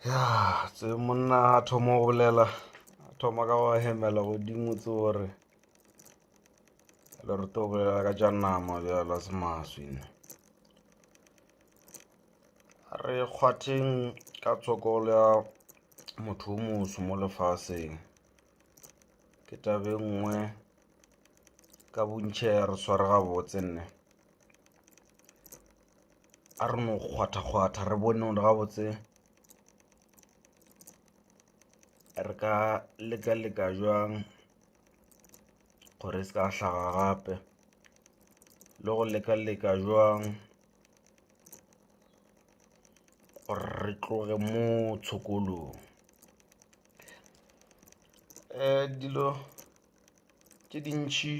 ya tse monna a thoma go bolela a thoma ka go hemela godimo tse gore le re to bolela ka tša nama bjala se maswina re kgwatheng ka tshokolo ya motho o moso mo lefaseng ke tabe nngwe ka bontšhe ya re sware gabotse nne a re no kgwathakgwatha re bone gore gabotse re ka leka-leka jwang gore e se ka hlaga gape le go leka-leka jwang gore re tloge mo tshokolong um dilo tše dintšhi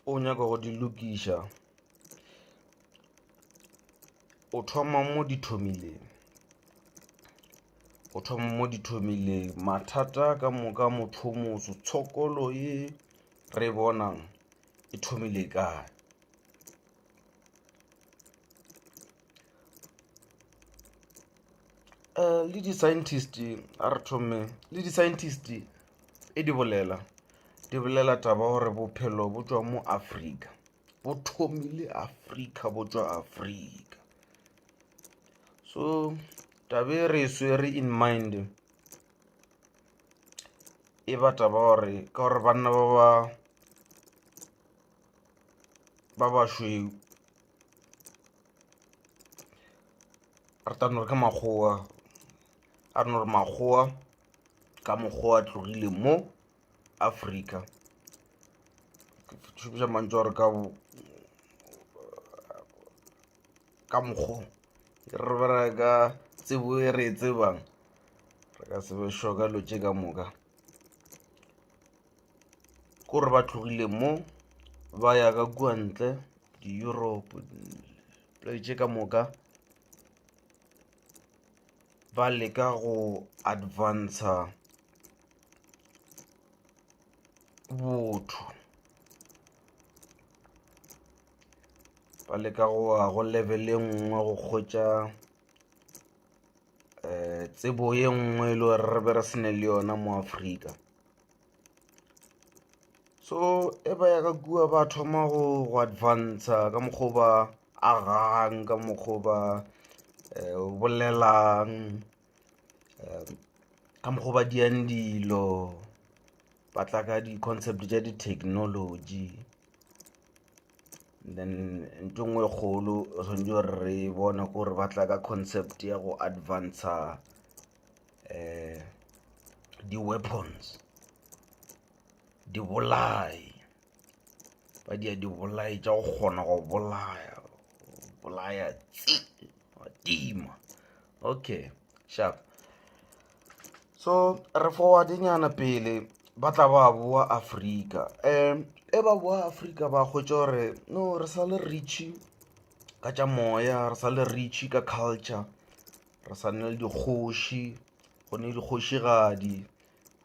o nyaka go di lokiša o thoma mo di thomileng o thoma mo di thomileng mathata ka moka motho motho tshokolo e re bonang e thomile kae. Eh, le di-scientist a re thome le di-scientist e di bolela di bolela taba gore bophelo bo tswa mo afrika bo thomile afrika bo tswa afrika so tabe re e swere in mind e ba taba gore ka gore banna ba ba ba bašweu ratano re ka makgowa a re no re makgowa ka mokgowa a tlogile mo afrika šomiša mantso gore ka ka mokgong re bera ka tsebo e re e tsebang re ka sebe sho ka lo tše ka moka kore ba tlogile mo ba ya ka kua ntle di-europe play tše ka moka ba leka go advanca botho ba leka go wa go level e nngwe go kgotša um tsebo ye nngwe e le gore re be re sene le yona mo afrika so e ba ya ka kua ba thoma go go advanca ka mokgwa ba agang ka mokgwa ba eh, o bolelang eh, ka mokgwa ba diang dilo ba tla ka di-concept tša di-technology then nto ngwe e kgolo swantse gore re bone gore ba tla ka concept ya go advanca um eh, di-weapons dibolai ba dia dibolai tša go kgona go bolaya bolaya tsi wa tima okay sharp so re forwardenyana pele ba tla ba boa afrika um e ba boa afrika ba hwetša gore no re sa le reachy ka tša moya re sa le reachy ka culture re sa nne le dikgoši go ne dikgošigadi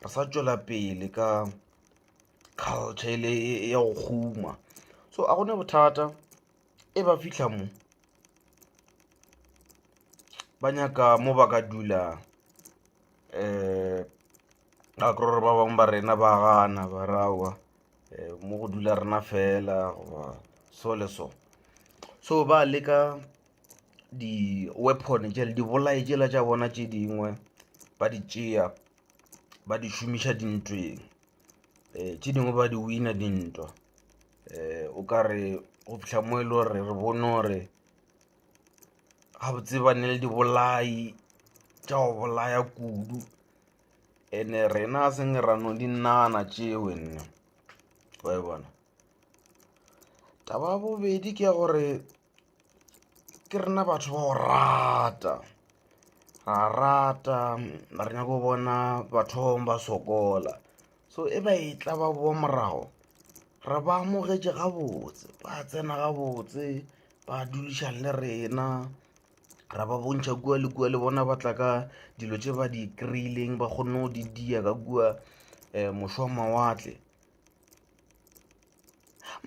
re sa tšwela pele ka culture e le ya go guma so a gone bothata e ba fihla mo ba nyaka mo ba ka dula um ga kry gore ba bangwe ba rena ba gana ba rawa um mo go dula rena fela goba so le so so ba leka di-weapon jele dibolae jela tša bona tše dingwe ba di tšea ba di šomiša dintweng um tše dingwe ba di wina dintwa um o ka re go fihla mo e le gore re bone gore gabotse ba ne le dibolai tša go bolaya kudu and-e rena a seng ra no di nagana tšeo nna wa e bona taba ya bobedi ke ya gore ke rena batho ba go rata ra rata re nyako bona batho ba bangwe ba sokola so e ba e tla ba boa morago re ba amogetše gabotse ba tsena gabotse ba dulišang le rena ra ba bontšha kua le kua le bona ba tla ka dilo tše ba di kry-ileng ba kgonne go di dia ka kua um mošwa mawatle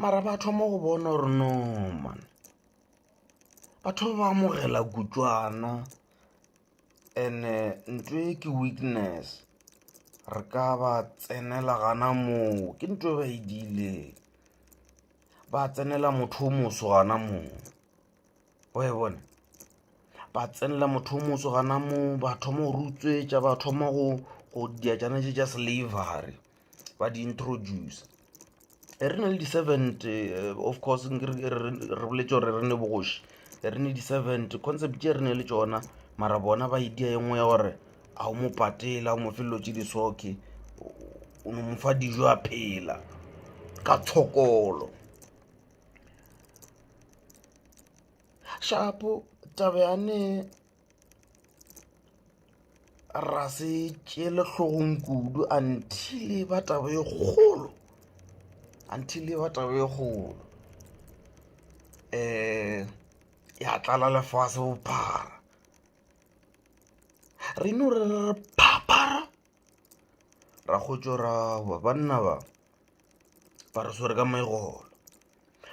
mara ba thoma go bona gore no man batho ba amogela kutswana and-e ntho e ke weakness re ka ba tsenela gana moo ke ntho e ba e diileng ba tsenela motho o moso gana moo. oe bona ba tsenela motho o motso gana mo ba thoma go rutswetša ba thoma go go diajana tše tša slavery ba di introduce e re na le di-servant eh, of course re boletse gore re ne bogoši re ne di-servant concept tše re ne le tsona mara bona ba e dia e nngwe ya gore a o mo patela o mo felelo tse di soke o no mo fa dijo a phela ka tshokolo shapo taba ya ne ra se tšele hlogong kudu until ba taba e kgolo until ba taba e kgolo um ya tlala lefase bophara re no re re phaphara ra go tšorawa banna ba ba re swere ka megolo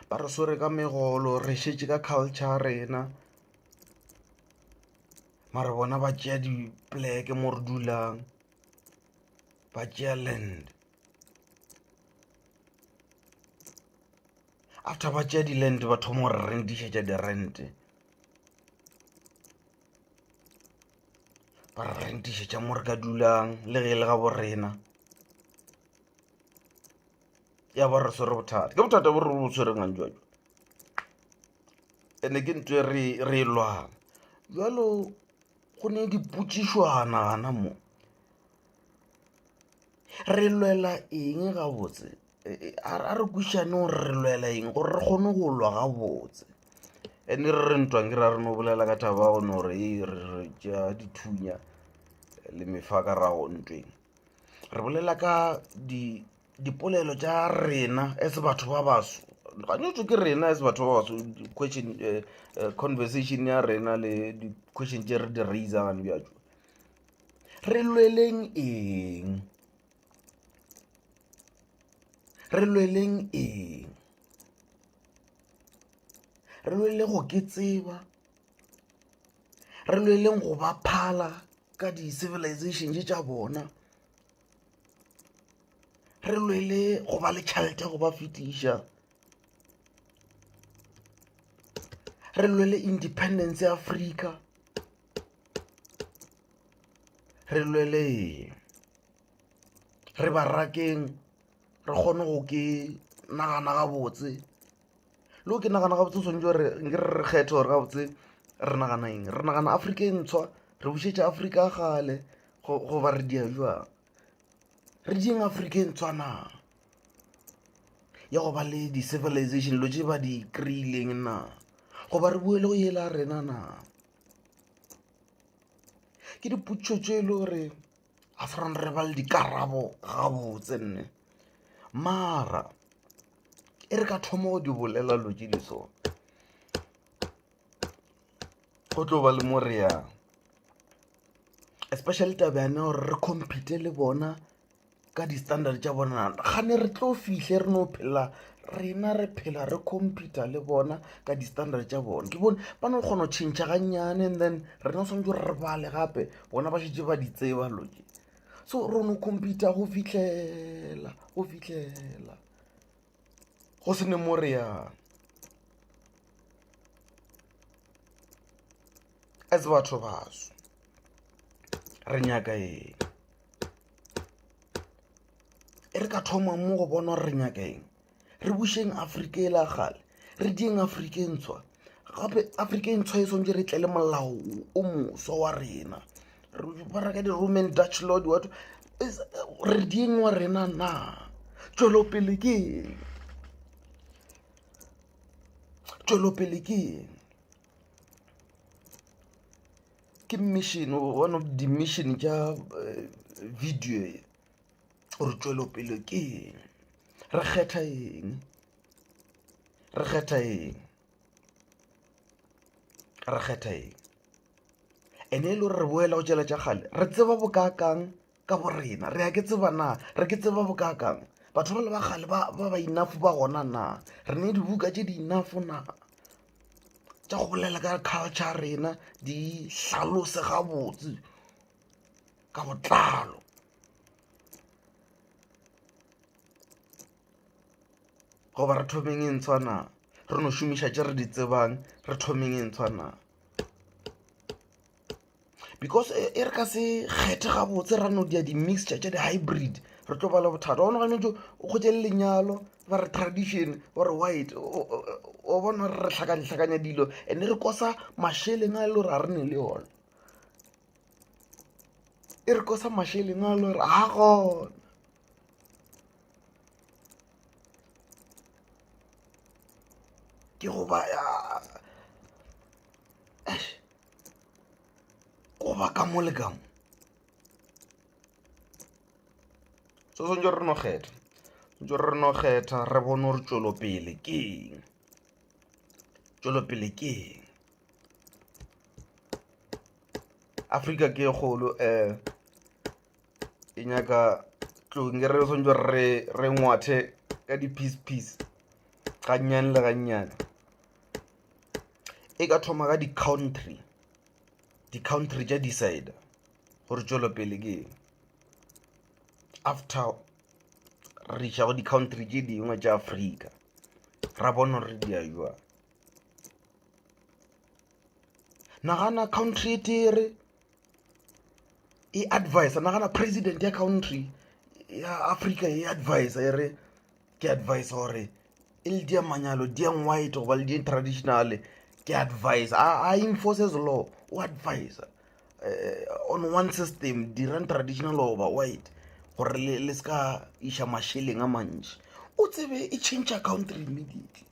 ba re swere ka megolo re šetše ka culture rena mare bona ba tšea dipleke mo re dulang ba tšea land after ba tšea di-land ba thoma gore rentišetša di-rente ba re rentišetša mo re ka dulang le ge e le ga bo rena ya ba re swere bothata ke bothata bo re bo tshwereng a njwajwa ande ke ntse re re lwana jalo go ne dipotsišwana gana mo re lwela eng gabotse a re kwišane gore re lwela eng gore re kgone go lwa gabotse and-e re re ntwang ke ra re no bolela ka thaba go no gore ee re ja dithunya le mefa ka rago ntweng re bolela ka dipolelo tša rena as batho ba baso gantšintši ke rena as batho ba baso question conversation ya rena le di-question tše re di raiser gane bjatšo re lweleng eng re lweleng eng re lwele go ke tseba re lweleng go ba phala ka di-civilizations tša bona re lwele go ba le tšhelete go ba fetiša re lwele independence ya afrika re lweleng re barakeng re kgone go ke nagana gabotse le go ke nagana gabotse swanetse gore nke re kgethe gore gabotse re nagana eng re nagana afrika e ntshwa re bušetša afrika ya kgale goba re dia jwang re dieng afrika e ntshwa na ya go ba le di-civilization dilo tse ba di kry-ileng na goba re boele go yela rena na. ke dipotšišo tše e le gore ga se rona re ba le dikarabo gabotse nne mara e re ka thoma go di bolela lo tše di so go tlo ba le mo re yang especially taba yane gore re compete le bona ka di-standard tša bona gane re tlo fihle re no phela rena re phela re computa le bona ka di-standard tša bona ke bone ba no kgona go tšhentšha gannyane and then rena o tshwanetse re bale gape bona ba šetse ba di tseba loke so re no computa go fitlhela go fitlhela go se ne mo reyang a tse batho baso re nyaka eng e re ka thoma mo go bona gore re nyaka eng re bušeng afrika e la gale re dieng afrika e ntshwa gape afrika e ntshwa e swantse re tle le molao o moso wa rena ba reka di-roman dutch lord wato re dieng wa rena na tšwelopele ke eng tšwelopele ke eng ke mission one of the mission tša eh, video e gore tšwelopele ke eng re kgetha eng re kgetha eng re kgetha eng ene e le gore re boela go tšela tša gale re tseba bokaakang ka bo rena re a ke tseba na re ke tseba bokakang batho ba le ba gale ba ba inafo ba gona na re ne dibuka tše di inafo na tša go bolela ka culture rena di hlalose gabotse ka botlalo goba re thomeng e ntshwa na re no šomiša tše re di tsebang re thomeng e ntshwa na because e, e re ka se kgethe gabotse ra no dia di-mixture tša di-hybrid re tlo bala bothata one gane jo o kgotse le lenyalo ba re tradition ore white o bona re re tlhakantlhakanya dilo and re kosa masheleng a e le gore a re ne le yone e re kosa masheleng a e le gore a gona ke goba goba ka mo le ka mo so swantse re no kgetha swantse re no kgetha re bone gore tšwelopele ke eng tšwelopele ke eng afrika ke kgolo um e nyaka tlong e re re swantse re re ngwathe ka di-piece piece gannyane le gannyane e ka thoma ka di-country di-country tša decide gore tšwelopele ke eng after re iša go di-country tše dingwe tša afrika ra bona gore di a jwang nagana country e tere e advisa nagana president ya country ya africa e advisa e re ke advise gore e le dia manyalo diang white goba le di traditional ke advise a enforces law o advise eh, on one system dirang traditional goba white gore le se ka iša mašeleng a mantši o tsebe e change country immediately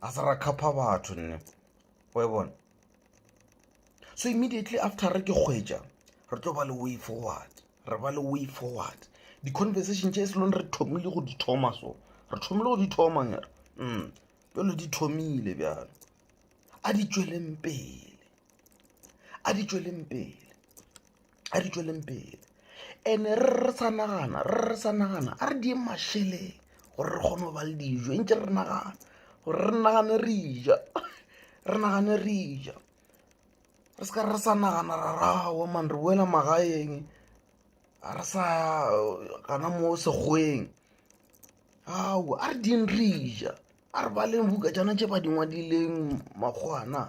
a se ra khapha batho nne o e bona so immediately after re ke kgwetša re tlo ba le way forward re ba le way forward di-conversation tše se lone re thomile go di thoma so re thomile go di thoma ngere mm jalo di thomile bjalo a di tšweleng pele a di tšweleng pele a re tšweleng pele ene re re sa nagana re re sa nagana a re dieng mašeleng gore re kgone go ba le dijo e ntse re nagana gore re nagane re ja re nagane re ja re seka re sa nagana ra rawa man re boela magaeng a re sa gana mo sekgweng ao a re ding re ja a re baleng buka jana tše ba dingwadileng makgwana